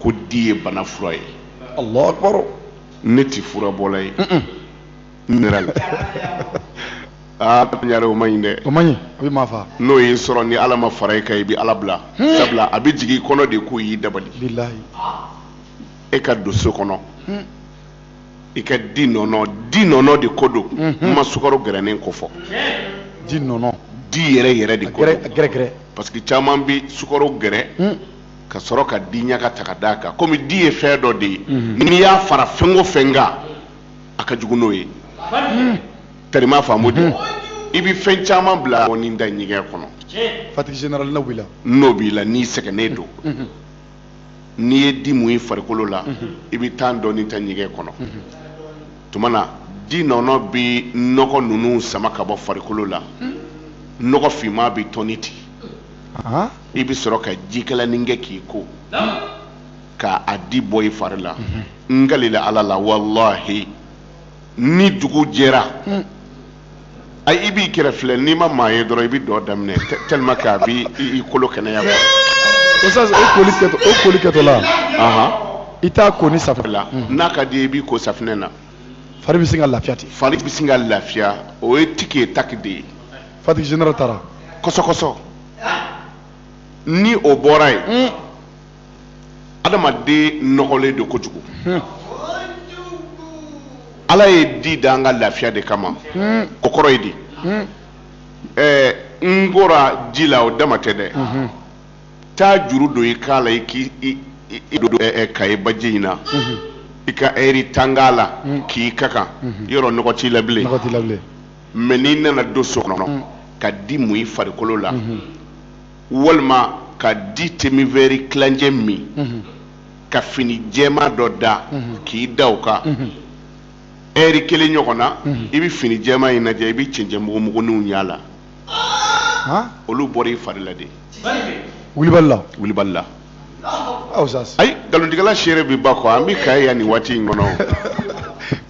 ko di ye bana fura ye alahu akbar ne ti furabɔla ye n nira la aa ɲare o ma ɲi dɛ o ma ɲi a bɛ maa faa n'o y'i sɔrɔ ni ala ma fara i kan i bɛ ala bila sabula a bɛ jigin i kɔnɔ de k'o y'i dabali bilahi e ka don so kɔnɔ i ka di nɔnɔ di nɔnɔ de ko don mhm. n ma sukaro gɛrɛnen ko fɔ di nɔnɔ di yɛrɛ yɛrɛ de ko gɛrɛ parce que caman bɛ sukaro gɛrɛ hmm. ka sɔrɔ ka di ɲaga ta ka d'a kan komi di ye fɛn dɔ de ye mhm. n'i y'a fara fɛn o fɛn kan a ka jugu n'o ye hmm. tɛrima faamu de mhm. i bɛ fɛn caman bila n'i taa ɲɛgɛn kɔnɔ fatigue générale n'o b'i la n'o b'i la n'i sɛgɛnnen don n'i ye di mun i farikolo la i bɛ tan dɔɔni taa ɲɛgɛn kɔnɔ tuma na di nɔnɔ bɛ nɔgɔ ninnu sama ka bɔ farikolo la nɔgɔ finman bɛ tɔni ten i bɛ sɔrɔ ka jikalanin kɛ k'i ko ka a di bɔ i fari la n kalila ala la walahi ni dugu jɛra a i b'i kɛrɛ filɛ n'i ma maa ye dɔrɔn i bɛ dɔn daminɛ tellement que a b'i kolo kɛnɛya quoi. Oustaz o koli kɛtɔ o koli kɛtɔla. Ahan. I t'a ko ni safinɛ la. N'a ka d'i ye i b'i ko safinɛ na. Fari bɛ sin ka lafiya ten. Fari bɛ sin ka lafiya o ye tiki ye taki de ye. Fatigue générale taara. Kɔsɔkɔsɔ ni o bɔra yen. adamaden nɔgɔlen don kojugu ala ye di da an ka lafiya de kama o kɔrɔ ye di n kora ji la o dama tɛ dɛ taa juru don i kan la i k' ka ye baji in na i ka ɛri tan k'a la k'i ka kan yɔrɔ nɔgɔ t'i la bilen mais n'i nana don so kɔnɔ ka di mun i farikolo la walima ka di demi-verre tilancɛ min mhm. ka fini jɛma dɔ da mhm. k'i da o kan mhm. ɛri kelen ɲɔgɔn na i bɛ fini jɛma in lajɛ i bɛ cɛncɛnmugumuguninw y'a la olu bɔra i fari la de wulibali la wulibali la ayi nkalontigɛla seere bɛ ba kɔ an bɛ ka yan nin waati in kɔnɔ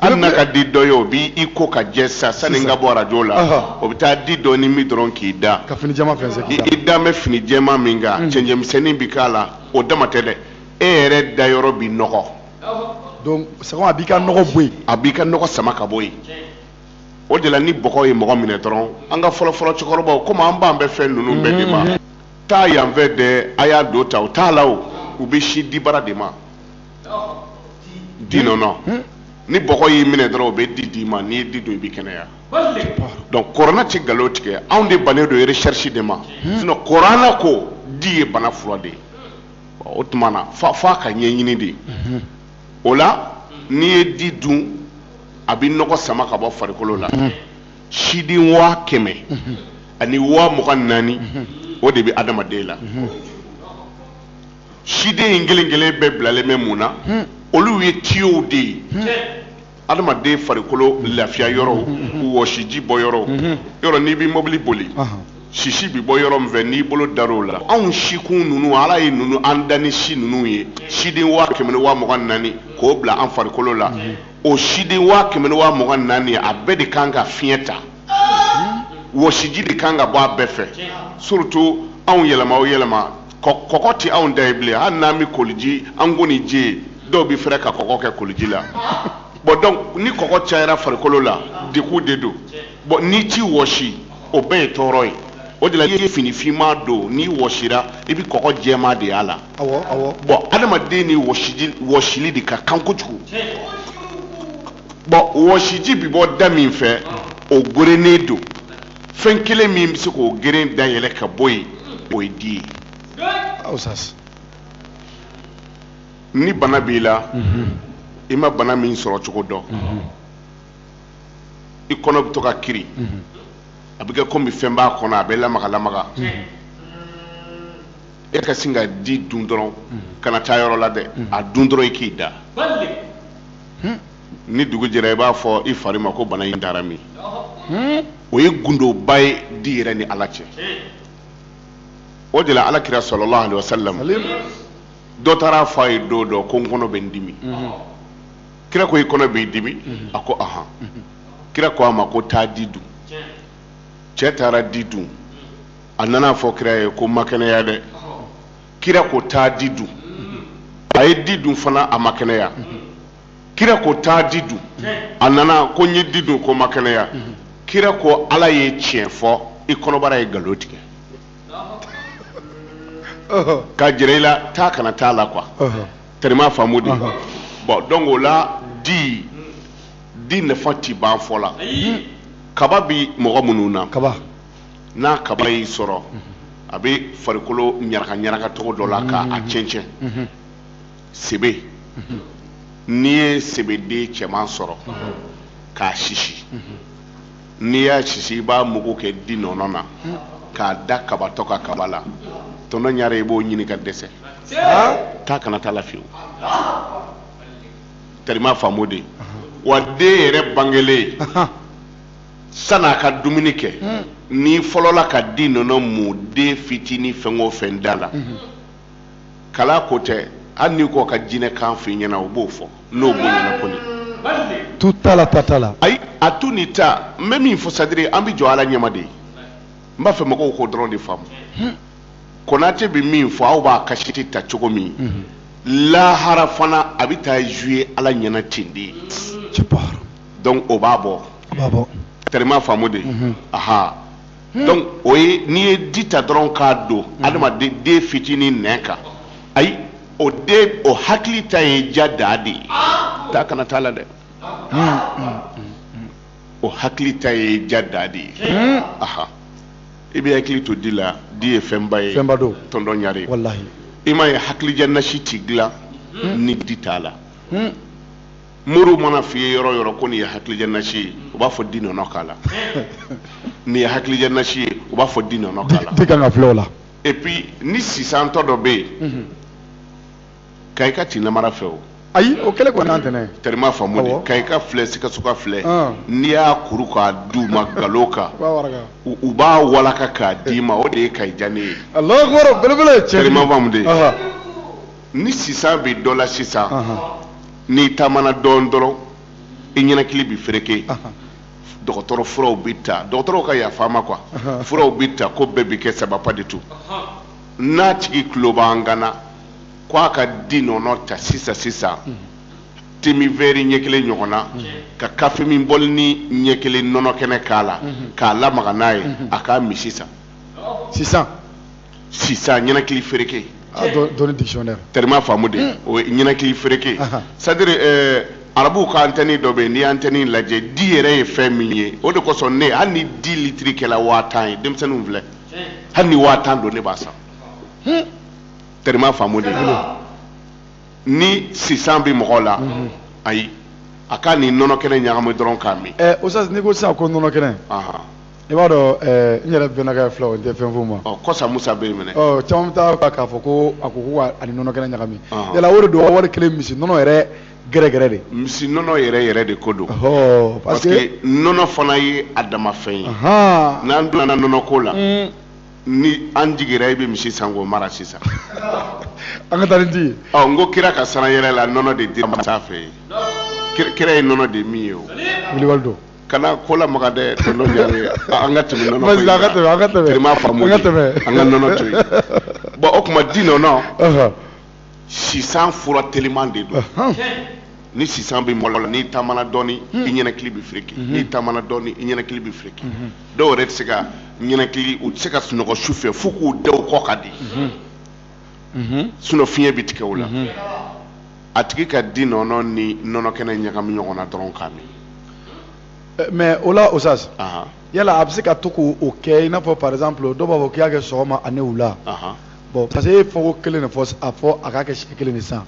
hali n'a ka di dɔ ye o b'i ko ka jɛ sa sani n ka bɔ arajo la o bɛ taa di dɔɔnin min dɔrɔn k'i da ka fini jɛman fɛnsɛn k'i da i dalen bɛ fini jɛman min kan cɛncɛnmisɛnnin bɛ k'a la o dama tɛ dɛ e yɛrɛ dayɔrɔ bɛ nɔgɔ donc sɛgɛn a b'i ka nɔgɔ bɔ yen a b'i ka nɔgɔ sama ka bɔ yen o de la ni bɔgɔ ye mɔgɔ minɛ dɔrɔn an ka fɔlɔfɔlɔ cɛkɔrɔbaw komi an b'an bɛɛ fɛn ninnu bɛɛ de ma taa yanfɛ dɛ a y'a don ta u t'a la o u bɛ sin dibara de ma di nɔnɔ hmm? ni bɔgɔ y'i minɛ dɔrɔn o bɛ di d'i ma n'i ye di dun i bɛ kɛnɛya donc kurana tɛ nkalon tigɛ anw de bannen don recherche de ma hmm? sinon kurana ko di ye bana fura de ye o tuma na f'a f'a k'a ɲɛɲini de hmm. o la n'i ye di dun a bɛ nɔgɔ sama ka bɔ farikolo la siden waa kɛmɛ ani waa mugan naani o de bɛ adamaden la siden in kelen kelen bɛɛ bilalen bɛ mun na olu ye tiyow de ye adamaden farikolo lafiya yɔrɔw wɔsiji bɔ yɔrɔw yɔrɔ n'i bɛ mobili boli sisi bɛ bɔ yɔrɔ min fɛ n'i bolo dar'o la anw sikun ninnu ala ye ninnu an da ni si ninnu ye siden waa kɛmɛ ni waa mugan naani k'o bila an farikolo la o siden waa kɛmɛ ni waa mugan naani a bɛɛ de kan ka fiɲɛ ta wɔsiji de kan ka bɔ a bɛɛ fɛ surtout anw yɛlɛma o yɛlɛma kɔgɔ tɛ anw da ye bilen hali n'an bɛ koliji an ko ni ji ye dɔw bɛ fɛrɛ ka kɔgɔ kɛ koliji la bɔn donc ni kɔgɔ cayara farikolo la degun de don bɔn n'i t'i wɔsi o bɛɛ ye tɔɔrɔ ye o de la i ye fini finma don n'i wɔsira i bɛ kɔgɔ jɛma de y'a la awɔ awɔ bɔn adamaden ni wɔsiji wɔsili de ka kan kojugu bɔn wɔsiji bɛ bɔ da min fɛ o gerennen don fɛn kelen min bɛ se k'o geren dayɛlɛ ka bɔ yen o ye di ye usas ni bana b'i la i ma bana min sɔrɔ cogo dɔn i kɔnɔ bɛ to ka kiri a bɛ kɛ komi fɛn b'a kɔnɔ a bɛ lamaga lamaga e ka sin ka di dun dɔrɔn kana taa yɔrɔ la dɛ a dun dɔrɔn i k'i da ni dugu jɛra i b'a fɔ i fari ma ko bana in taara min o ye gundoba ye di yɛrɛ ni ala cɛ o de la ala kira salalahu alewasalamu dɔ taara a fɔ a ye don dɔ ko n kɔnɔ bɛ n dimi kira ko i kɔnɔ b'i dimi mhm. a ko ahan mhm. kira ko a ma ko taa di dun cɛ taara di dun a nana a fɔ kira ye ko n ma kɛnɛya dɛ kira ko taa di dun a ye di dun fana a ma kɛnɛya kira ko taa di dun a nana ko n ye di dun ko n ma kɛnɛya kira ko ala ye tiɲɛ fɔ i kɔnɔbara ye nkalon tigɛ k'a jira i la taa kana taa la quoi tɛrɛma faamu de bɔn donc o la di di nafa ti ban fɔ la kaba bi mɔgɔ minnu na kaba n'a kaba y'i sɔrɔ a bɛ farikolo ɲaraka ɲaraka cogo dɔ la ka a mm-hmm. cɛncɛn mm-hmm. sebe mm-hmm. n'i ye sebeden cɛman sɔrɔ k'a sisi n'i y'a sisi i b'a mugu kɛ di nɔnɔ na k'a da kabatɔ ka kaba la tɔntɔn ɲare i b'o ɲini ka dɛsɛ taa ka na t'a la fiyewu tarima faamo de wa den yɛrɛ bangelen san'a ka dumuni kɛ n'i fɔlɔla ka di nɔnɔ mun den fitinin fɛn o fɛn da la kalan ko tɛ hali n'i ko ka jinɛ kan f'i ɲɛna u b'o fɔ n'o b'o ɲɛna kɔni tu t'a la ta t'a la ayi a tu ni ta n bɛ min fɔ c'est-à-dire an bɛ jɔ ala ɲɛma de ye n b'a fɛ mɔgɔw k'o dɔrɔn de faamu konate bɛ min fɔ aw b'a kasɛti ta cogo min lahara fana a bɛ taa zuye ala ɲɛna ten de ye donc o b'a bɔ a b'a bɔ tɛrɛma faamu de aha Hmm. donc o ye n'i ye di ta dɔrɔn k'a don hmm. adamaden den fitinin nɛn kan ayi o den o hakili ta ye ja daa de ye taa ka na t'a la dɛ hmm, o hakili ta ye ja daa de ye aha i bɛ hakili to di la di ye fɛnba ye fɛnba don tɔntɔn ɲare walahi i m'a ye hakilidiya nasi ti dilan ni di t'a la moriw man'a f'i ye yɔrɔ o yɔrɔ ko nin ye hakilidiya nasi ye u b'a fɔ di nɔnɔ k'a la nin ye hakilidiya nasi ye u b'a fɔ di nɔnɔ k'a la di kan ka filɛ o la et puis ni sisantɔ dɔ bɛ yen mhm. kayika ti namara fɛ o ayi o kɛlɛ kɔni an tɛnɛ tɛrima faamu de kayika filɛ sikasoka filɛ ah. n'i y'a kuru k'a d'u ma ngalon kan u b'a walaka k'a d'i ma o de ye kayi diya ne ye tɛrima faamu de ni sisan bɛ dɔ la sisan n'i taamana dɔɔnin dɔrɔn i ninakili bɛ fereke dɔgɔtɔrɔ furaw bɛ ta dɔgɔtɔrɔw ka yafa ma u ka furaw bɛ ta ko bɛɛ bɛ kɛ sababu de to n'a tigi tulo b'an kan na ko a ka di nɔnɔ ta sisan sisan te min vɛri ɲɛ kelen ɲɔgɔn na ka kafe min bɔlinin ɲɛ kelen nɔnɔ kɛnɛ k'a la k'a lamaga n'a ye a k'a min sisan sisan sisan ninakili fereke ah, dɔnni dictionnaire tɛrima faamu de hmm. o ye ninakili fereke c'est-à-dire eh, arabuw ka antɛni dɔ bɛ yen n'i antɛni lajɛ di yɛrɛ ye fɛn min ye o de kosɔn ne hali ni di litiri kɛla waa tan ye denmisɛnninw filɛ hali ni waa tan don ne b'a san hmm. tɛrima faamu de bolo ni sisan bɛ mɔgɔ la hmm. ayi a k'a ni nɔnɔ kɛnɛ ɲagami dɔrɔn k'a min. ɛ eh, o sisan n'i ko sisan ko nɔnɔ kɛnɛ. i b'a dɔn eh, n yɛrɛ bɛnakɛ fila o tɛ fɛn f'u ma ɔ kɔsa musa bɛ yen minɛ ɔ caman bɛ taa ka k'a fɔ ko a ko ko a ni nɔnɔ kɛnɛ ɲagami Ɔhɔn. yala o de don wa wari kelen misi nɔnɔ yɛrɛ yɛrɛyɛrɛ de misi nɔnɔ yɛrɛ yɛrɛ de ko don ɔhɔ parce que que nɔnɔ fana ye a dama fɛn ye ahan n'an donna nɔnɔ ko la ni an jigira i bɛ misi san k'o mara sisan an ka taa ni di ye ɔ n ko kira ka sanyɛlɛn la nɔnɔ de dir'a ma sanfɛ yen Kira- kira ye nɔnɔ de min yen o wulibali don Kana ko la makan dɛ an ka tɛmɛ an ka tɛmɛ an ka nɔnɔ to bon o tuma di nɔnɔ sisan fura teliman de don ni sisan bɛ mɔgɔ la n'i tamana dɔɔni i ninakili bɛ fki n'i tamana dɔɔni i ninakili bɛ fki dɔw yɛrɛ tɛ se ka ninakili u tɛ se ka sunɔgɔ su fɛ fo k'u da kɔ ka di mhm. sinon fiɲɛ bɛ tigɛ o la mhm. a tigi ka di nɔnɔ ni nɔnɔ kɛnɛ ɲagami ɲɔgɔn na dɔrɔn k'a min eh, mais o la dosage yala a bɛ se ka to k'o kɛ i n'a fɔ par exemple dɔw b'a fɔ k'i y'a kɛ sɔgɔma ani wula bon parce que e ye fɔko kelen de fɔ a fɔ a k'a kɛ siɲɛ kelen de san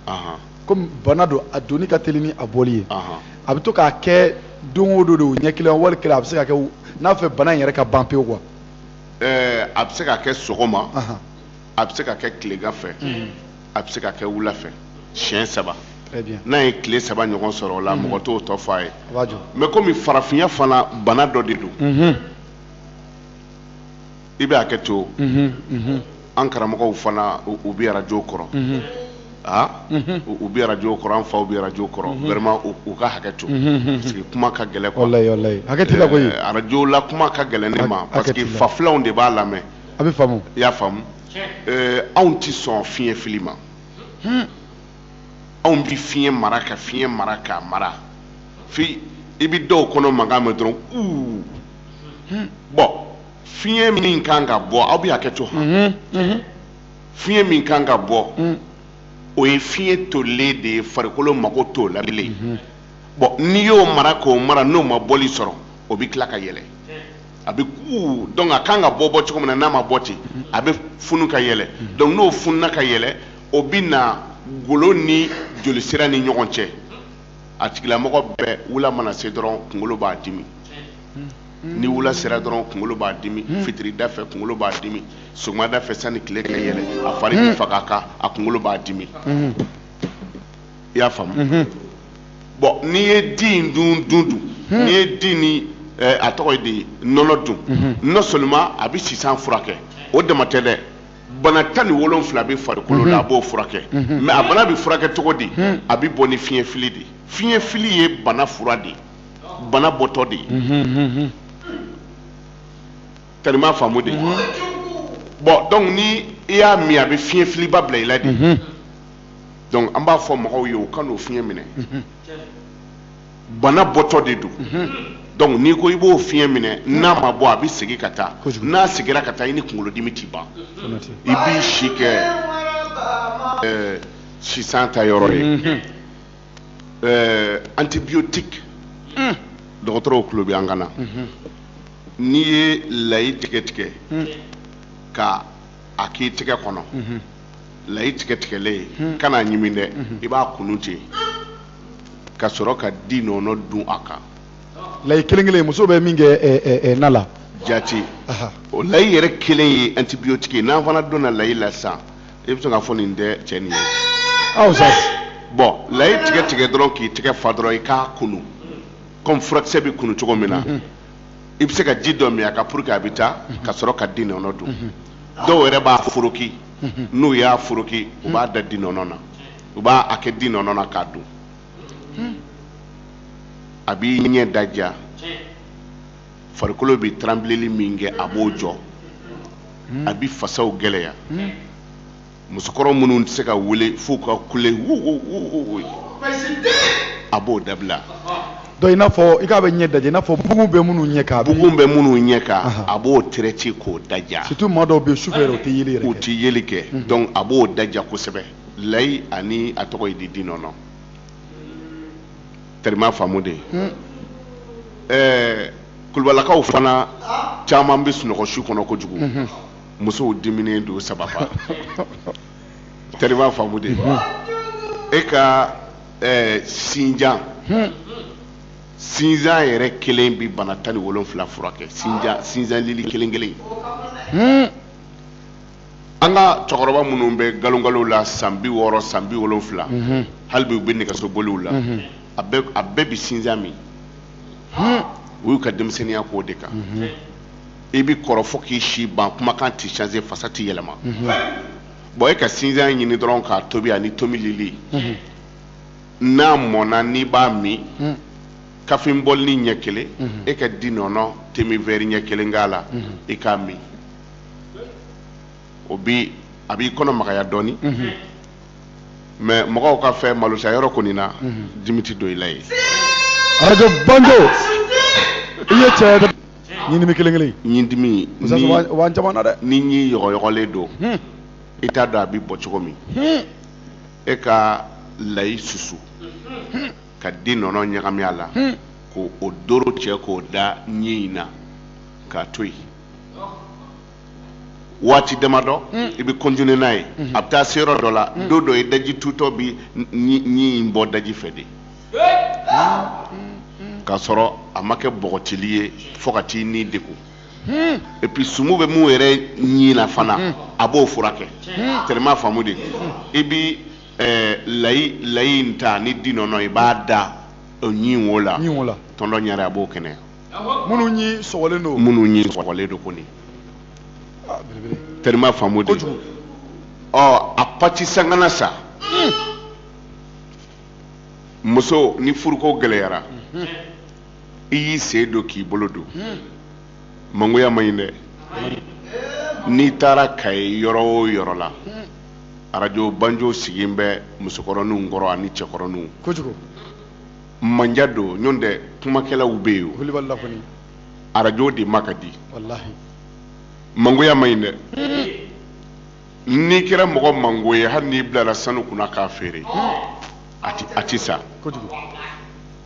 komi bana don a donni ka teli ni a bɔli ye a bɛ to k'a kɛ don o don de o ɲɛ kelen wali kelen a bɛ se ka kɛ n'a fɛ bana in yɛrɛ ka ban pewu quoi ɛɛ a bɛ se ka kɛ sɔgɔma a bɛ se ka kɛ tilegan fɛ mhm. a bɛ se ka kɛ wula fɛ siɲɛ saba n'a ye tile saba ɲɔgɔn sɔrɔ o la mhm. mɔgɔ t'o tɔ fɔ a ye mais komi farafinya fana bana dɔ de don mhm. i bɛ hakɛ to an karamɔgɔw fana u bɛ arajo kɔrɔ aa u bɛ arajo kɔrɔ an faw bɛ arajo kɔrɔ vraiment u ka hakɛ to parce que kuma ka gɛlɛn quoi walayi walayi hakɛ t'i la koyi eh, arajo la kuma ka gɛlɛn ne ma parce que fafilanw de b'a lamɛn a bɛ faamu i y'a faamu ɛɛ anw tɛ sɔn fiɲɛ fili ma hmm. anw bɛ fiɲɛ mara ka fiɲɛ mara k'a mara fo i bɛ dɔw kɔnɔ mankan mɛn dɔrɔn uu hmm. bon fiɲɛ min kan ka bɔ aw bɛ hakɛ to han hmm, fiɲɛ min kan ka bɔ o ye fiɲɛ tolilen de ye farikolo mago t'o la bilen bon n'i y'o mara k'o mara n'o ma bɔli sɔrɔ o bɛ tila ka yɛlɛ a bɛ kuu donc a kan ka bɔ bɔcogo min na n'a ma bɔ ten a bɛ funu ka yɛlɛ donc n'o fununa ka yɛlɛ o bɛ na golo ni jolisira ni ɲɔgɔn cɛ a tigilamɔgɔ bɛɛ wula mana se dɔrɔn kunkolo b'a dimi ni wula sera dɔrɔn kunkolo b'a dimi hmm. fitirida fɛ kunkolo b'a dimi sɔgɔmada fɛ sani tile ka yɛlɛ a fari bɛ hmm. faga a kan a kunkolo b'a dimi hmm. i y'a faamu mhm. bon n'i ye di in dun dun dun hmm. n'i ye di ni eh, a tɔgɔ ye di nɔnɔ dun mhm. non seulement a bɛ sisan furakɛ o dama tɛ dɛ bana tan ni wolonfila bɛ farikolo la a mhm. b'o furakɛ mais a bana bɛ furakɛ cogo di hmm. a bɛ bɔ ni fiɲɛ fili de fiɲɛ fili ye bana fura de bana bɔtɔ de ye tari i m'a faamu de bon donc ni i y'a min a bɛ fiɲɛ filiba bila i la de. donc an b'a fɔ mɔgɔw ye u kan'o fiɲɛ minɛ bana bɔtɔ de don donc n'i ko i b'o fiɲɛ minɛ n'a ma bɔ a bɛ segin ka taa n'a seginna ka taa i ni kunkolodimi tɛ ban i b'i si kɛ eh, sisan ta yɔrɔ ye eh, antibiotique hmm. dɔgɔtɔrɔw tulo bɛ an kan na n'i ye layi tigɛ tigɛ ka a k'i tɛgɛ kɔnɔ layi tigɛ tigɛlen hmm. kana ɲimi dɛ hmm. i b'a kunu ten ka sɔrɔ ka di nɔnɔ dun a kan layi kelen kelen muso bɛ min kɛ eh, eh, eh, na la jati o layi yɛrɛ kelen ye antibiyotiki ye n'an fana donna layi la sisan i bɛ se k'a fɔ nin tɛ cɛ nin ye aw sa bon layi tigɛ tigɛ dɔrɔn k'i tɛgɛ fa dɔrɔn i k'a kunu kɔmi furakisɛ bɛ kunu cogo min na hmm. i bɛ se ka ji dɔ min a kan pour que a bɛ taa ka sɔrɔ ka di nɔnɔ dun dɔw yɛrɛ b'a foroki n'u y'a foroki u b'a da di nɔnɔ na u b'a a kɛ di nɔnɔ na k'a dun a b'i ɲɛ daja farikolo bɛ tranbileli min kɛ a b'o jɔ a bɛ fasaw gɛlɛya musokɔrɔ minnu tɛ se ka wuli f'u ka kule wu wu wu wu wu ye, a b'o dabila. Donc i n'a fɔ i k'a bɛ ɲɛ daja i n'a fɔ bugun bɛ minnu ɲɛ kan. Bugun bɛ minnu ɲɛ kan a b'o terɛti k'o daja. Surtout maa dɔw bɛ yen sufɛ yɛrɛ u tɛ yeli yɛrɛ kɛ. U tɛ yeli kɛ mhm. donc a b'o daja kosɛbɛ layi ani a tɔgɔ ye di di nɔnɔ. Tari i m'a faamu de. Hmm. Ɛɛ kulubalakaw fana caman bɛ sunɔgɔ su kɔnɔ kojugu. Mhm. musow diminen don saba i b'a faamu de e ka sinjan sinsan yɛrɛ kelen bɛ bana tan ni wolonwula furakɛ sinsanlili kelen kelen an ka cɛkɔrɔba minnu bɛ nkalonkalo la san bi wɔɔrɔ san bi wolonwula halibi u bɛ nɛgɛsoboli la a bɛɛ bɛ sinsan min u y'u ka denmisɛnninya k'o de kan i bɛ kɔrɔ fo k'i si ban kumakan tɛ changé fasa tɛ yɛlɛma bon e ka sinzan ɲini dɔrɔn k'a tobi ani tomilili n'a mɔnna n'i b'a min kafe bɔlini ɲɛ kelen e ka di nɔnɔ te min vɛri ɲɛ kelen k'a la i k'a min o bi a b'i kɔnɔ magaya dɔɔni mais mɔgɔw ka fɛn malota yɔrɔ kɔni na dimi tɛ don i la yen arajo banjo i ye cɛ ɲindimi kelen kelen ɲindimi musasi ni maa caman na dɛ ni ɲi yɔgɔyɔgɔlen don Hmm. i t'a dɔn a bɛ bɔ cogo min Hmm. e ka layi susu ka di nɔnɔ ɲagami a la Hmm. k'o doro cɛ k'o da ɲi in na k'a to yen waati damadɔ hmm. i bɛ continuer n'a ye hmm. a bɛ taa se yɔrɔ dɔ la hmm. don dɔ i daji tutɔ bi ɲi in bɔ daji fɛ de k'a sɔrɔ a ma kɛ bɔgɔtili ye fo ka t'i ni degun et puis sumu bɛ mun yɛrɛ ɲi na fana a b'o furakɛ terima faamude i bi eh, layi layi in ta ni di nɔnɔ i b'a da o ɲi wo la tonton ɲare a b'o kɛnɛya minnu ɲi sɔgɔlen don minnu ɲi sɔgɔlen don kɔni ah, terima faamude ɔ a pati sakana sa muso ni furuko gɛlɛyara mhm. i y'i sen don k'i bolo don mhm. mangoya man ɲi dɛ n'i taara kayi yɔrɔ o yɔrɔ la mhm. arajo banjo sigilen bɛ musokɔrɔninw kɔrɔ ani cɛkɔrɔninw kojugu manja don ɲɔntɛ kumakɛlaw bɛ yen o arajo de ma ka di mangoya man ɲi dɛ n'i kɛra mɔgɔ mango ye hali n'i bilara sanu kunna k'a feere a tɛ san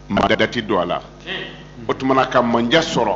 maa da ti don a la o tuma na ka manja sɔrɔ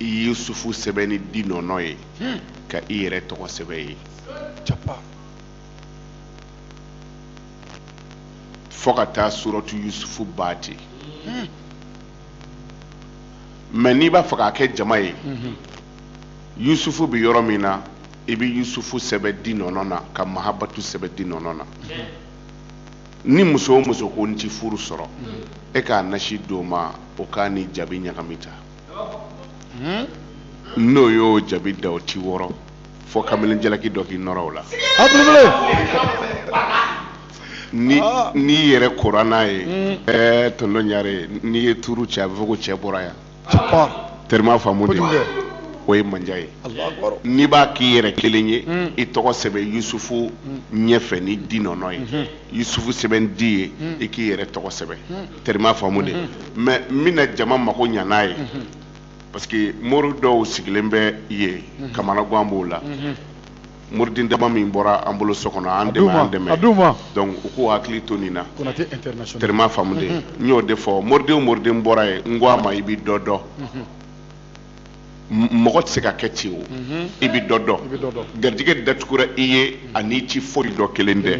i yusufu sɛbɛn ni di nɔnɔ ye hmm. ka i yɛrɛ tɔgɔ sɛbɛn ye fo ka taa suratu yusufu ban ten hmm. mais n'i b'a fɛ k'a kɛ jama ye hmm. yusufu bɛ yɔrɔ min na i bɛ yusufu sɛbɛn di nɔnɔ na ka mahabatu sɛbɛn di nɔnɔ na ni muso o muso ko n ti furu sɔrɔ i k'a nasi d'o ma o k'a ni jabi ɲagami tan hmm? n'o y'o jabi da o ti wɔrɔ fo kamalen jalaki dɔ k'i nɔrɔ o la ni ah. n'i yɛrɛ kora n'a ye hmm. ɛɛ tonton ɲare n'i ye tuuru cɛ a bɛ fɔ ko cɛ bɔra yan terima faamude o ye manja ye n'i b'a k'i yɛrɛ kelen ye hmm. i tɔgɔ sɛbɛn yusufu ɲɛfɛ ni di nɔnɔ ye yusufu sɛbɛn di ye i k'i yɛrɛ tɔgɔ sɛbɛn terima faamude mais n bɛna jama mako ɲa n'a ye parce que mori dɔw sigilen bɛ yen kamanagan b'o la moriden dama min bɔra an bolo so kɔnɔ an dɛmɛ an dɛmɛ donc u k'u hakili to nin na terima faamude n y'o de fɔ moriden o moriden bɔra yen n ko a ma i bɛ dɔ dɔn mɔgɔ tɛ se ka kɛ ten o i bɛ dɔ dɔn garijɛgɛ datugura i ye a n'i ti foyi dɔn kelen tɛ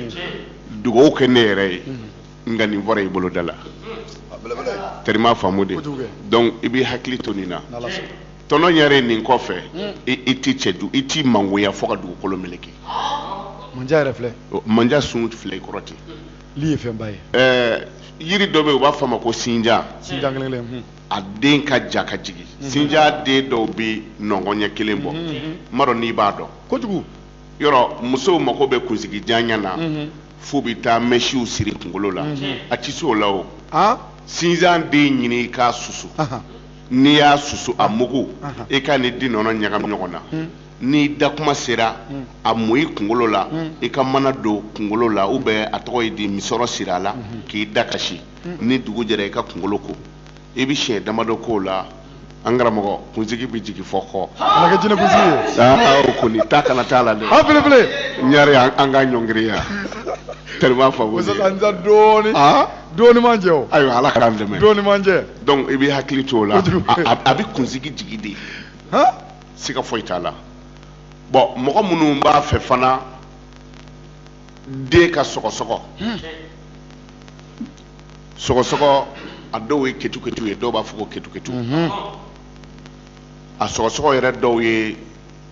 dugawu kɛ ne yɛrɛ ye nka nin bɔra i boloda la teri m'a faamu de donc i b'i hakili to nin na tɔnɔ ɲare nin kɔfɛ i t'i cɛ du i t'i mangoya fo ka dugukolo meleke manja yɛrɛ filɛ manja sun filɛ i kɔrɔ ten li ye fɛnba ye ɛɛ yiri dɔ bɛ yen u b'a fɔ a ma ko sinjan sinjan kelen kelen hmm. a den ka jan ka jigin hmm. sinjan den dɔw bɛ nɔngɔn ɲɛ kelen bɔ n hmm, m'a dɔn n'i b'a dɔn kojugu yɔrɔ musow mako bɛ kunsigi janya na mhm. fo u bɛ taa mɛsiw siri kunkolo la mhm. a tɛ se o la o sinjan den ɲini i k'a susu n'i y'a susu a mugu i k'a ni di nɔnɔ ɲagami ɲɔgɔn na hmm. n'i da kuma sera hmm. a mun i kunkolo la hmm. i ka mana don kunkolo la u bɛ a tɔgɔ ye di misɔrɔ siri a la k'i da ka si ni dugu jɛra i ka kunkolo ko i bɛ siɲɛ damadɔ k'o la an karamɔgɔ kunsigi bɛ jigin fo kɔ kana kɛ jinɛ kunsigi ye aa o kɔni ta kana t'a la dɛ a belebele ɲare an an ka ɲɔngiriya tellement fa wuli musaka n ta dɔɔni Ah? dɔɔni man jɛ o ayiwa ala k'an dɛmɛ dɔɔni man jɛ donc i bɛ hakili to o la Kojugu. a a- a bɛ kunsigi jigin de han siga foyi t'a la bon mɔgɔ minnu b'a fɛ fana den ka sɔgɔsɔgɔ sɔgɔsɔgɔ a dɔw ye ketuketu ye dɔw b'a fɔ ko ketuketu mhm. a sɔgɔsɔgɔ yɛrɛ dɔw ye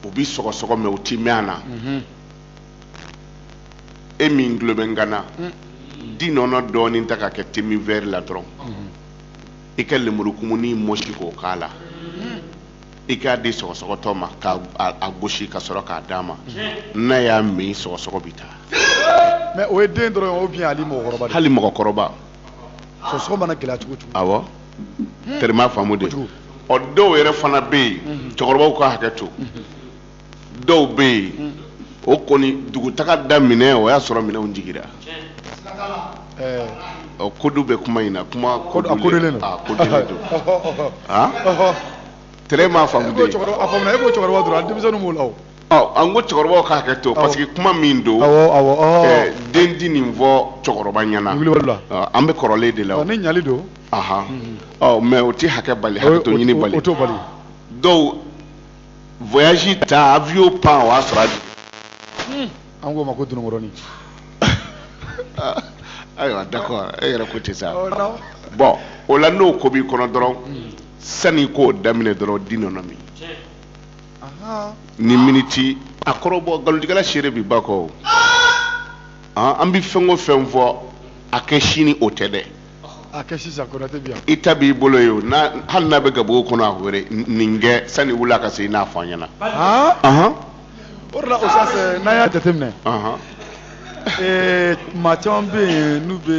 u bi sɔgɔsɔgɔ mɛ u ti mɛn a na mhm. e min tulo bɛ n kan na mm. di nɔnɔ dɔɔnin ta k'a kɛ te min vɛri la dɔrɔn mhm. i ka lemuru kumuni mɔsi k'o k'a la i k'a di sɔgɔsɔgɔtɔ ma ka a gosi ka sɔrɔ k'a d'a ma n'a y'a min sɔgɔsɔgɔ bɛ taa mɛ o ye den dɔrɔn o bi hali mɔgɔkɔrɔba hali mɔgɔkɔrɔba sɔgɔsɔgɔ mana gɛlɛya cogo cogo awɔ teri m'a faamu de ɔ dɔw yɛrɛ fana bɛ yen cɛkɔrɔbaw ka hakɛ to dɔw bɛ yen hmm. o kɔni dugutaga daminɛ o y'a sɔrɔ minɛnw jigira eh. code bɛ kuma in na kuma codélen tɛrɛ m'a faamu e ko cɛkɔrɔba dɔrɔn denmisɛnnin b'o la an ko cɛkɔrɔbaw ka hakɛ to parce que kuma min don eh, den ti nin fɔ cɛkɔrɔba ɲɛna an bɛ kalan de la ne ɲali don mais o tɛ hakɛ bali hakɛ to ɲini bali dɔw voyage ta avion pan o y'a sɔrɔ a jigin. an k'o ma ko dunukɔrɔni. ayiwa d'accord e yɛrɛ ko ten sa. Oh, bon o la n'o ko b'i kɔnɔ dɔrɔn hmm. sani i k'o daminɛ dɔrɔn di nɔnɔ min. ni miniti a kɔrɔbɔ nkalontigɛla seere bi ba kɔ o. an bɛ fɛn o fɛn fɔ a kɛ sini o tɛ dɛ. a kɛ sisan konate bi yan i ta b'i bolo ye o n'a- hali n'a bɛ gabugu kɔnɔ a wele n- nin kɛ sani wula ka se i n'a fɔ an ɲɛna han Ahan, o de la usutazi n'an y'a jateminɛ ahan. ee, maa caman bɛ yen n'u bɛ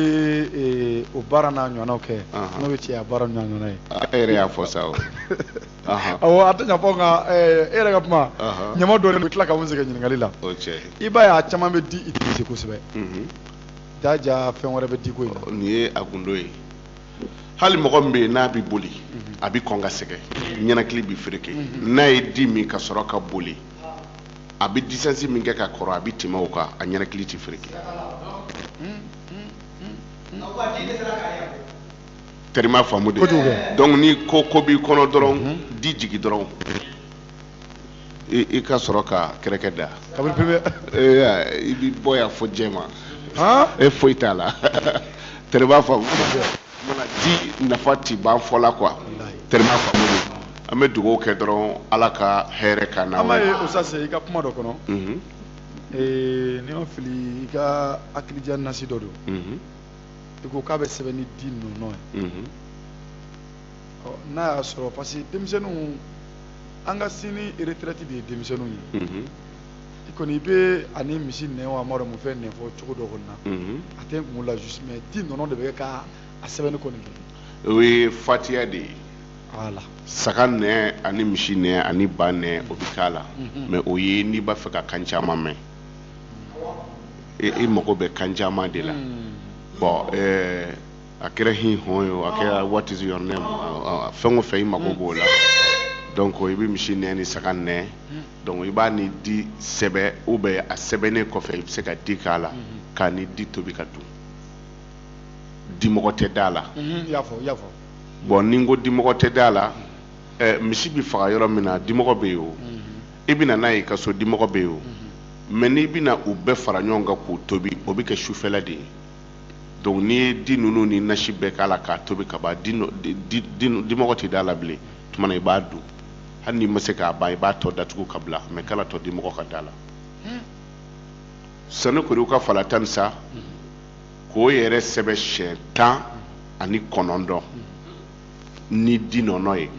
ee, o baara n'a ɲɔgɔnnaw kɛ Ahan. n'o bɛ cɛya baara n'a ɲɔgɔnna ye A- e yɛrɛ y'a fɔ sa o Ahan, awɔ a tɛ ɲa fɔ nka ee, e yɛrɛ ka kuma Ahan. ɲama dɔɔnin bɛ tila ka mun sɛgɛn ɲininkali la o cɛ i b'a ye a caman bɛ di utiliser kosɛbɛ Mhm. Jaja fɛn wɛrɛ bɛ di ko nin ye a gundo ye hali mɔgɔ min bɛ yen n'a bɛ boli mhm. a bɛ kɔn ka sɛgɛn ɲɛnakili bɛ fereke mhm. n'a ye di min ka sɔrɔ ka boli a bɛ disansi min kɛ ka kɔrɔ a bɛ tɛmɛ o kan a ɲɛnakili tɛ fereke teri b'a faamu dɛ donc ni ko ko b'i kɔnɔ dɔrɔn mhm. di jigin dɔrɔn i ka sɔrɔ ka kɛrɛkɛ da i bɛ bɔ yan fɔ jɛma e foyi t'a la teri b'a faamu mana di nafa ti ban fɔ la quoi teri b'a faamu an bɛ dugawu kɛ dɔrɔn ala ka hɛrɛ ka na ala ye usutazi i ka kuma dɔ kɔnɔ ni n ma fili i ka hakilidiya nasi dɔ don i ko k'a bɛ sɛbɛn ni di ninnu ye n'a y'a sɔrɔ parce que denmisɛnninw an ka sini retraite de ye denmisɛnninw ye i kɔni i b'a ni misi nɛn wa n m'a dɔn mun fɛn nɛn fɔ cogo dɔ kɔni na a tɛ n kun la juste mais di nɔnɔ de bɛ kɛ a sɛbɛnni kɔni o ye fatiya de ye voilà saga nɛn ani misi nɛn ani ba nɛn o bɛ k'a la mais o ye n'i b'a fɛ ka kan caman mɛn i mago bɛ kan caman de la bon ɛɛ a kɛra hi hɔn ye a kɛra what is your name fɛn o fɛn i mago b'o la donc i bɛ misi nɛn ni saga nɛn donc i b'a ni di sɛbɛn ou bien a sɛbɛnnen kɔfɛ i bɛ se ka di k'a la k'a ni di tobi ka dun dimɔgɔ tɛ d'a la bon ni n ko dimɔgɔ tɛ d'a la misi bɛ faga yɔrɔ min na dimɔgɔ bɛ yen o i bɛ na n'a ye i ka so dimɔgɔ bɛ yen o mais n'i bɛna u bɛɛ fara ɲɔgɔn kan k'u tobi o bɛ kɛ sufɛla de ye donc n'i ye di ninnu ni nasi bɛɛ k'a la k'a tobi ka ban dimɔgɔ tɛ d'a la bilen tuma na i b'a dun hali n'i ma se k'a ban i b'a tɔ datugu ka bila mais kan'a to dimɔgɔ ka d'a la hmm. sanukuriwuka fala tanisa k'o yɛrɛ sɛbɛn siɲɛ tan ani kɔnɔntɔn ni di nɔnɔ ye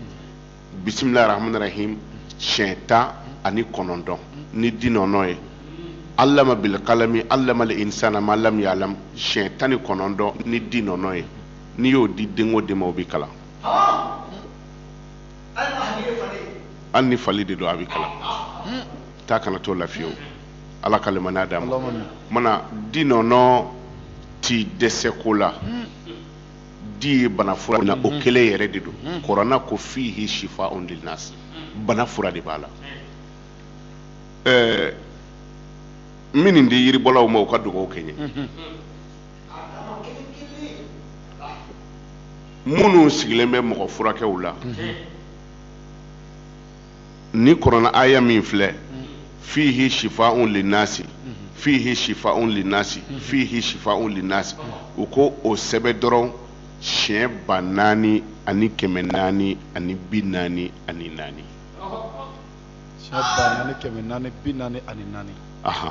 bisimilahi rahmani rahim siɲɛ tan ani kɔnɔntɔn ni di nɔnɔ ye alama bilkalami alamal insana ma lam yalam siɲɛ tan ni kɔnɔntɔn ni di nɔnɔ ye n'i y'o di den o den ma o bɛ kalan hali ni fali de don a bɛ kalan ta kana to lafiyewu ala ka limaniya d'a ma mana di nɔnɔ ti dɛsɛ ko la di ye bana fura na o kelen yɛrɛ de don kɔrɔna ko fihi shifaun linnas bana fura de b'a la ɛɛ n bɛ nin di yiribɔlaw ma u ka dugawu kɛ n ye minnu sigilen bɛ mɔgɔ furakɛw la nin kɔrɔna aya min filɛ fihi shifaun linnasi fihi shifaun linnasi fihi shifaun linnasi u ko o sɛbɛ dɔrɔn siɲɛ ba naani ani kɛmɛ naani ani bi naani ani naani siɲɛ ba naani kɛmɛ naani bi naani ani naani aha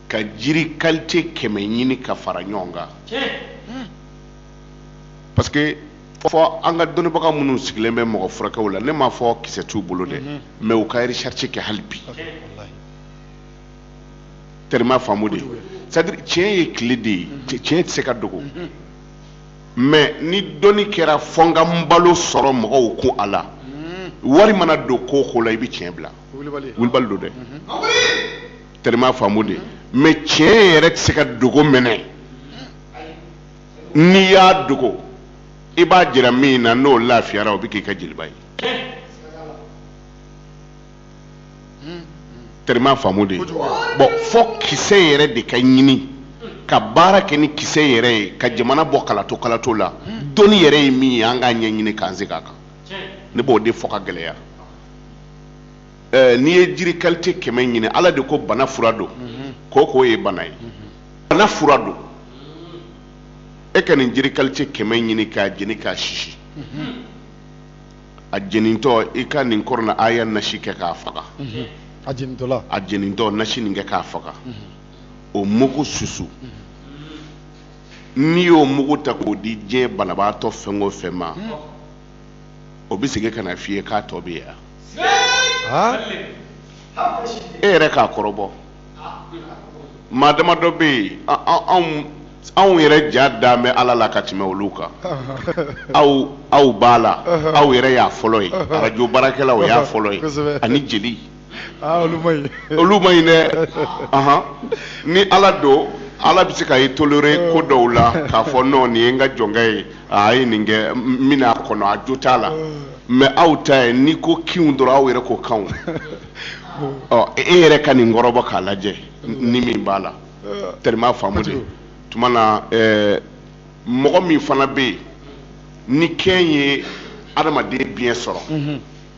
ka jiri kalite kɛmɛ ɲini ka fara ɲɔgɔn kan parce que fo an ka dɔnnibaga minnu sigilen bɛ mɔgɔ furakɛw la ne m'a fɔ kisɛ t'u bolo dɛ mhm. mais u ka recherche kɛ hali bi terima faamu dɛ c'est à dire tiɲɛ ye tile de ye mhm. tiɲɛ tɛ se ka dogo mhm. mais ni dɔnni kɛra fo n ka n balo sɔrɔ mɔgɔw kun a la wari mana don ko o ko la i bɛ tiɲɛ bila wulibali don dɛ terima faamu dɛ mais tiɲɛ yɛrɛ tɛ se ka dogo mais n'i y'a dogo i b'a jira min na n'o lafiyara o bɛ k'i ka jeliba ye terima faamu dɛ bon fo kisɛ yɛrɛ de ka ɲini ka baara kɛ ni kisɛ yɛrɛ ye ka jamana bɔ kalato kalato la dɔnni yɛrɛ ye min ye an k'a ɲɛɲini k'an se k'a kan ne b'o de fɔ ka gɛlɛya eh, n'i ye jiri kalite kɛmɛ ɲini ala de ko bana fura don ko o ko ye bana ye bana fura don e ka nin jiri kalite kɛmɛ ɲini k'a jeni k'a sisi a jenintɔ i ka nin kɔrɔna aya nasi kɛ k'a faga a jenintɔla a jenintɔ nasi nin kɛ k'a faga o mugu susu n'i y'o mugu ta k'o di diɲɛ banabaatɔ fɛn o fɛn ma o bɛ segin ka na f'i ye k'a tɔ bɛ yan e yɛrɛ k'a kɔrɔbɔ maa damadɔ bɛ yen anw anw yɛrɛ ja dan bɛ ala la ka tɛmɛ olu kan aw aw b'a la aw yɛrɛ y'a fɔlɔ ye arajo baarakɛla o y'a fɔlɔ ye ani jeli Ah, olu man ɲi dɛ ni ala don ala bɛ se ka i tolérer ko oh. dɔw la k'a fɔ nɔ nin ye n ka jɔnkɛ ye a ye nin kɛ min a kɔnɔ a jo t'a la oh. mɛ aw ta ye n'i ko kinw dɔrɔn aw yɛrɛ ko kanw oh. e yɛrɛ ka nin kɔrɔbɔ k'a lajɛ ni min b'a la tari i m'a faamu de tuma na eh, mɔgɔ min fana bɛ yen ni kɛn ye adamaden biɲɛ sɔrɔ mhm.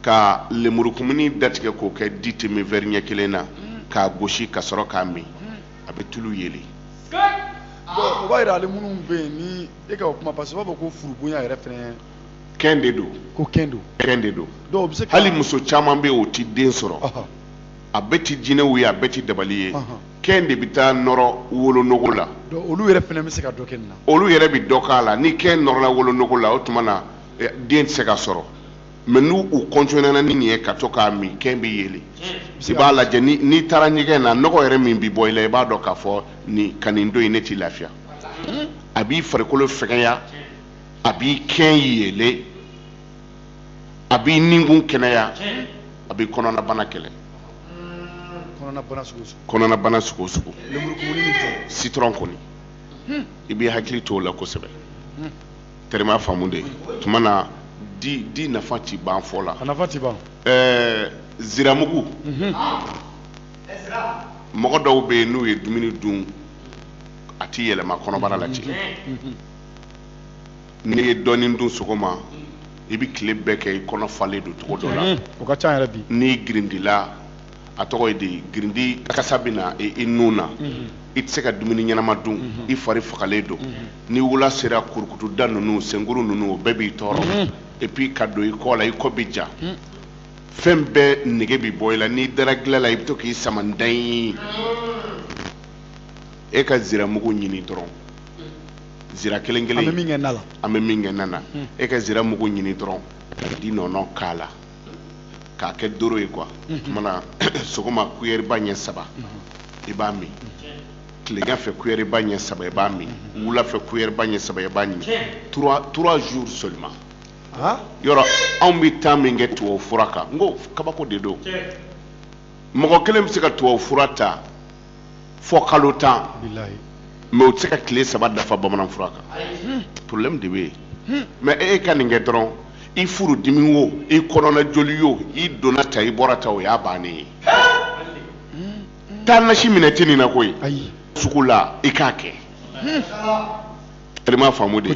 ka lemurukumuni datigɛ k'o kɛ di demi vɛri ɲɛ kelen na k'a gosi ka sɔrɔ k'a min a bɛ tulu yeli o b'a yira ale minnu bɛ yen ni e ka o kuma parce que b'a fɔ ko furubonya yɛrɛ fɛnɛ kɛn de don ko kɛn don kɛn de don donc bɛ se hali muso caman bɛ yen o ti den sɔrɔ a bɛɛ ti jinɛw ye a bɛɛ ti dabali ye kɛn de bɛ taa nɔrɔ wolonogo la olu yɛrɛ fɛnɛ bɛ se ka dɔ kɛ nin na olu yɛrɛ bɛ dɔ k'a la ni kɛn nɔrɔla wolonogo la o tuma na eh, den tɛ se ka sɔrɔ mɛ n'u kɔntinena ni nin ye ka to k'a min kɛn bɛ yeli i b'a lajɛ n'i taara ɲɛgɛn na nɔgɔ yɛrɛ min bɛ bɔ i la i b'a dɔn k'a fɔ nin ka nin don in ne t'i lafiya a b'i farikolo fɛgɛya a b'i kɛn yeelen a b'i ninkun kɛnɛya a bɛ kɔnɔnabana kɛlɛ kɔnɔnabana sugu sugu citron kɔni i bɛ hakili to o la kosɛbɛ tari i m'a faamu de tuma na di di nafa ti ban fɔ la nafa ti ban ɛɛ ziramugu mhm. mɔgɔ dɔw bɛ yen n'u ye dumuni dun a ti yɛlɛma kɔnɔbara la dɛ mhm. n'i ye dɔɔnin dun sɔgɔma i bɛ tile bɛɛ kɛ i kɔnɔ falen don cogo dɔ la mhm. o ka ca yɛrɛ bi n'i girindila a tɔgɔ ye di girindi kasa bɛ na i i nun na i tɛ se ka dumuni ɲɛnama dun i fari fagalen don ni wula sera kurukutuda ninnu senkuru ninnu o bɛɛ b'i tɔɔrɔ et puis ka don i kɔ la i kɔ bɛ ja fɛn bɛɛ nege bɛ bɔ i la n'i dara gila la i bɛ to k'i sama ntanyi e ka ziramugu ɲini dɔrɔn zira kelen an bɛ kelen min kɛ na la an bɛ min kɛ na na e ka ziramugu ɲini dɔrɔn ka di nɔnɔ k'a la k'a kɛ doro ye kuwa tuma na sɔgɔma kuyɛriba ɲɛ saba i b'a min tilegan fɛ kuyɛriba ɲɛ saba i b'a min wula fɛ kuyɛriba ɲɛ saba i b'a min trois jours seulement yɔrɔ aw bɛ taa min kɛ tubabu fura kan n ko kabako de don mɔgɔ kelen bɛ se ka tubabu fura ta fɔ kalo tan mɛ o tɛ se ka tile saba dafa bamanan fura kan hmm. problème de bɛ yen hmm. mɛ e, e ka nin kɛ dɔrɔn i furu dimi wo i kɔnɔna joli wo i donna ta i bɔra ta o y'a bannen ye hmm. tana si minɛ tɛ nin na koyi sugu la i k'a kɛ tari i m'a faamu de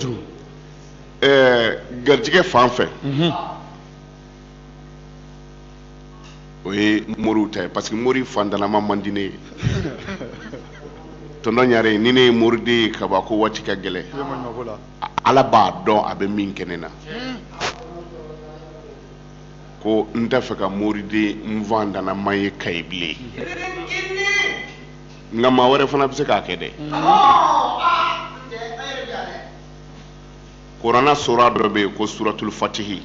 ɛɛ garijɛgɛ fan fɛ. o ye moriw ta ye parce que mori fantanama man di ne ye tɔntɔn ɲare ni ne ye moriden ye kaba ko waati ka gɛlɛn ala b'a dɔn a bɛ min kɛ ne na ko n t'a fɛ ka moriden fantanama ye kayi bilen nka maa wɛrɛ fana bɛ se k'a kɛ dɛ kurana sura dɔ bɛ yen ko suratul fatihi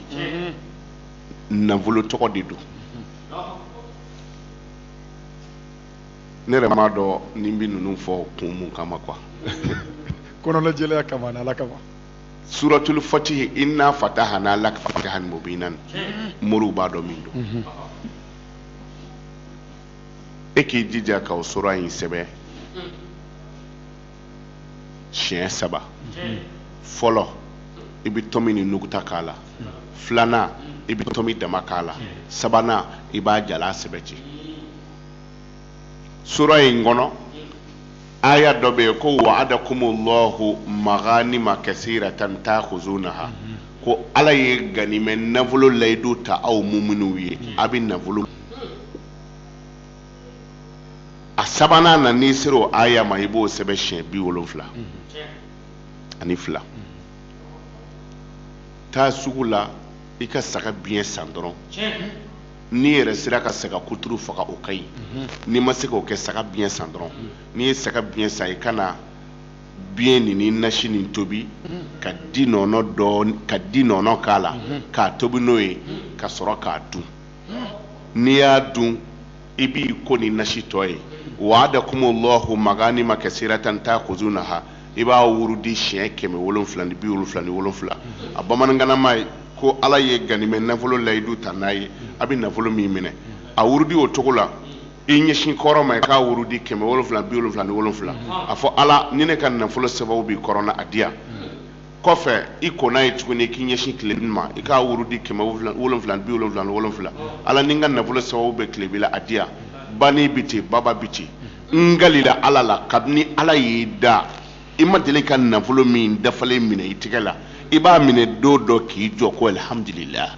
nafolo tɔgɔ de don ne yɛrɛ m'a dɔn ne bɛ ninnu fɔ kun mun kama quoi kɔnɔnajɛlenya kama ani ala kama suratul fatihi inna fatahana laka fatahan mubinan moriw b'a dɔn min don e k'i jija ka o sura in sɛbɛn siɲɛ saba fɔlɔ i bɛ tomi ni nuguta k'a la filanan i bɛ tomi dama k'a la sabanan i b'a jalan sɛbɛn ten sura in kɔnɔ aya dɔ bɛ yen ko wa'adakumullahu maganima kasiratan ta'khuzunaha ko ala ye ganimɛ nafolo layidu ta aw muminuw ye a bɛ nafolo a sabanan na n'i sera o aya ma i b'o sɛbɛn siɲɛ bi wolonfila ani fila taa sugu la i ka saga biɲɛ san dɔrɔn n'i yɛrɛ sera ka saga kuturu faga o ka ɲi n'i ma se k'o kɛ saga biɲɛ san dɔrɔn n'i ye saga biɲɛ san i ka na biɲɛ nin ni nasi nin tobi ka di nɔnɔ dɔɔni ka di nɔnɔ k'a la k'a tobi n'o ye ka sɔrɔ k'a dun n'i y'a dun i b'i ko ni nasi tɔ ye wa'adakumullahu maganima kasiratan ta'khuzunaha i b'a wurudi siɲɛ kɛmɛ wolonfila ni bi wolonfila ni wolonfila a bamanankanama ye ko ala ye ganimɛ nafolo layidu ta n'a ye a bɛ nafolo min minɛ a wurudi o cogo la i ɲɛsin kɔrɔn ma i k'a wurudi kɛmɛ wolonfila bi wolonfila ni wolonfila a fɔ ala ni ne ka nafolo sababu bɛ kɔrɔn na a di yan kɔfɛ i kɔnna ye tuguni k'i ɲɛsin tilebin ma i k'a wurudi kɛmɛ wolonfila bi wolonfila ni wolonfila ala ni n ka nafolo sababu bɛ tilebin la a di yan bani bɛ ten baba bɛ ten n kalila ala la kabini ala y'i da i ma deli ka nafolo min dafalen minɛ i tɛgɛ la i b'a minɛ don dɔ k'i jɔ ko alihamudulila